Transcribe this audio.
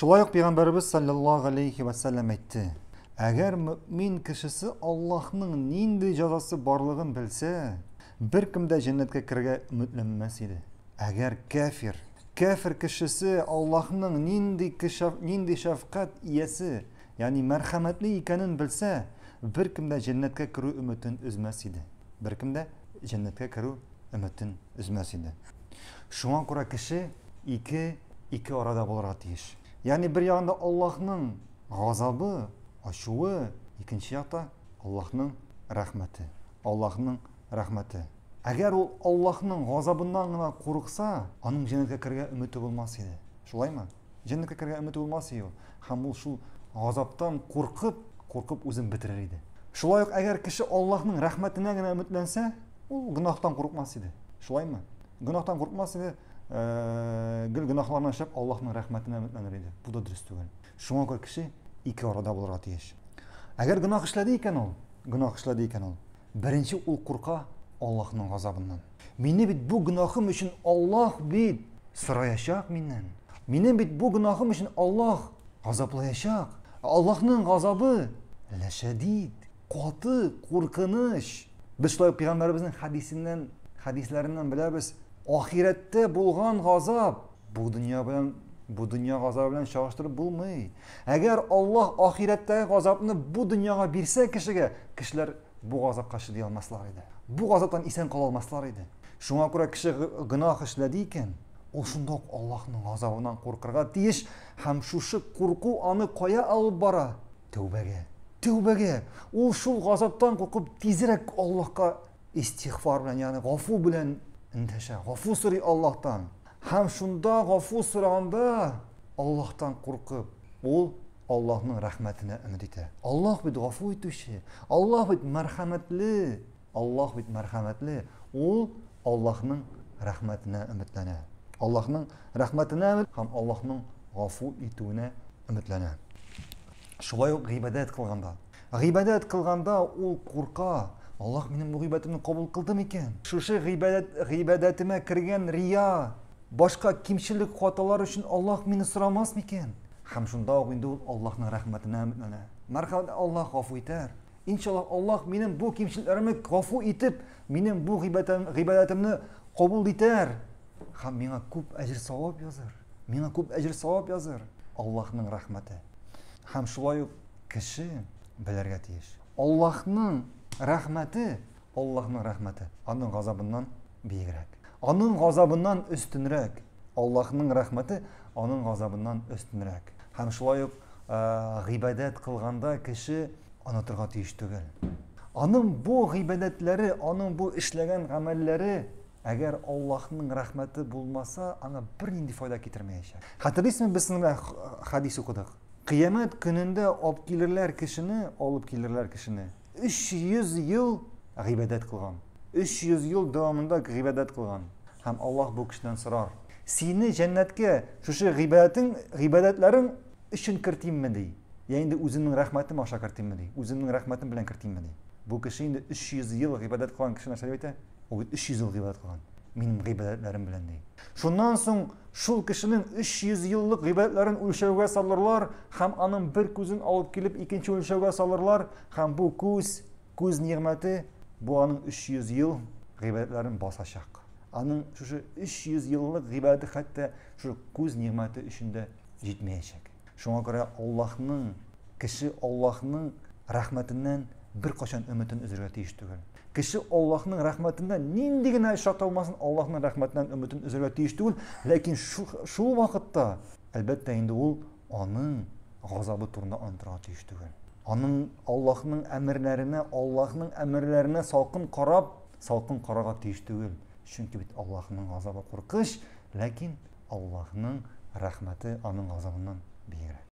Шулай ук пәйгамбәребез саллаллаһу алейхи ва саллям әйтте: Әгәр мөмин кешесе Аллаһның нинди җазасы барлыгын белсә, беркем дә җәннәткә керергә өметләнмәс иде. Әгәр кәфир, кәфир кешесе Аллаһның нинди кешәф, нинди шәфкать иясе, ягъни мәрхәмәтле икәнен белсә, беркем дә җәннәткә керү өметен өзмәс иде. Беркем дә җәннәткә керү өметен өзмәс иде. Шуңа күрә кеше ике ике арада булырга тиеш. Ягъни бер ягында Аллаһның газабы, ачуы, икенче якта Аллаһның рәхмәте. Аллаһның рәхмәте. Әгәр ул Аллаһның газабыннан гына курыкса, аның җәннәткә керергә өмете булмас иде. Шулаймы? Җәннәткә керергә өмете булмас иде ул. Һәм ул шул газаптан куркып, куркып үзен бетерер иде. Шулай ук әгәр кеше Аллаһның рәхмәтенә генә өметләнсә, ул гөнаһтан курыкмас иде. Шулаймы? Гөнаһтан курыкмас иде, э, гел гөнаһларны эшләп Аллаһның рәхмәтенә өметләнер иде. Бу да дөрес түгел. Шуңа күрә кеше ике арада булырга тиеш. Әгәр гөнаһ эшләде икән ул, гөнаһ эшләде икән ул, беренче ул курка Аллаһның газабыннан. Мине бит бу гөнаһым өчен Аллаһ бит сораячак миннән. Минем бит бу гөнаһым өчен Аллаһ газаплаячак. Аллаһның газабы ләшәдид, каты, куркыныч. Без шулай пәйгамбәребезнең хәдисеннән, хәдисләреннән беләбез, ахирәттә булган газап бу дөнья белән бу дөнья газабы белән чагыштырып булмый. Әгәр Аллаһ ахирәттәге газапны бу дөньяга бирсә кешегә, кешеләр Бу газапка чыдый алмаслар иде. Бу газаптан исән кала алмаслар иде. Шуңа күрә кеше гөнаһ эшләде икән, ул шунда ук Аллаһның газабыннан куркырга тиеш һәм шушы курку аны кая алып бара? Тәүбәгә. Тәүбәгә. Ул шул газаптан куркып тизрәк Аллаһка истигъфар белән, ягъни гафу белән эндәшә. Гафу сорый Аллаһтан. Һәм шунда гафу сораганда Аллаһтан куркып, ул Аллаһның рәхмәтенә өмет итә. Аллаһ бит гафу итүче, Аллаһ бит мәрхәмәтле, Аллаһ бит мәрхәмәтле, ул Аллаһның рәхмәтенә өметләнә. Аллаһның рәхмәтенә өмет һәм Аллаһның гафу итүенә өметләнә. Шулай ук гыйбадәт кылганда. Гыйбадәт кылганда ул курка, Аллаһ минем бу гыйбадәтемне кабул кылды микән? Шушы гыйбадәт гыйбадәтемә кергән рия Башка кимчелек хаталар өчен Аллаһ мине сорамас микән? Һәм шунда ук инде ул Аллаһның рәхмәтенә өметләнә. Мәрхәмәт Аллаһ гафу итәр. Иншаллаһ, Аллаһ минем бу кимчелекләремне гафу итеп, минем бу гыйбадәтемне кабул итәр һәм миңа күп әҗер-савап языр. Миңа күп әҗер-савап языр. Аллаһның рәхмәте. Һәм шулай ук кеше белергә тиеш. Аллаһның рәхмәте Аллаһның рәхмәте Аның газабыннан биегрәк. Аның газабыннан өстенрәк. Аллаһның рәхмәте Аның газабыннан өстенрәк. Һәм шулай ук гыйбадәт кылганда кеше онытырга тиеш түгел. Аның бу гыйбадәтләре, аның бу эшләгән гамәлләре, әгәр Аллаһның рәхмәте булмаса, аңа бернинди файда китермәячәк. Хәтерлисезме, без сезнең белән хәдис укыдык. Кыямәт көнендә алып килерләр кешене, алып килерләр кешене, 300 ел гыйбадәт кылган. 300 ел дәвамында гыйбадәт кылган. Һәм Аллаһ бу кешедән сорар. Сине җәннәткә шушы гыйбадәтең, гыйбадәтләрең өчен кертимме ди? Я инде үземнең рәхмәтем аша кертимме ди? Үземнең рәхмәтем белән кертимме ди? Бу кеше инде 300 ел гыйбадәт кылган кеше нәрсә дип әйтә? Ул бит 300 ел гыйбадәт кылган. Минем гыйбадәтләрем белән ди. Шуннан соң шул кешенең 300 еллык гыйбадәтләрен үлчәүгә салырлар һәм аның бер күзен алып килеп икенче үлчәүгә салырлар һәм бу күз, күз нигъмәте бу аның 300 ел гыйбадәтләрен басачак. Аның шушы 300 еллык гыйбадәте хәтта шушы күз нигъмәте өчен дә җитмәячәк. Шуңа күрә Аллаһның кеше Аллаһның рәхмәтеннән бер качан өметен өзергә тиеш түгел. Кеше Аллаһның рәхмәтеннән нинди генә эш аталмасын, Аллаһның рәхмәтеннән өметен өзергә тиеш түгел, ләкин шул вакытта, әлбәттә, инде ул аның газабы турында онытырга тиеш түгел. Аның Аллаһның әмерләренә, Аллаһның әмерләренә салкын карап, салкын карарга тиеш түгел. Чөнки бит Аллаһның газабы куркыныч, ләкин Аллаһның рәхмәте аның газабыннан биегрәк.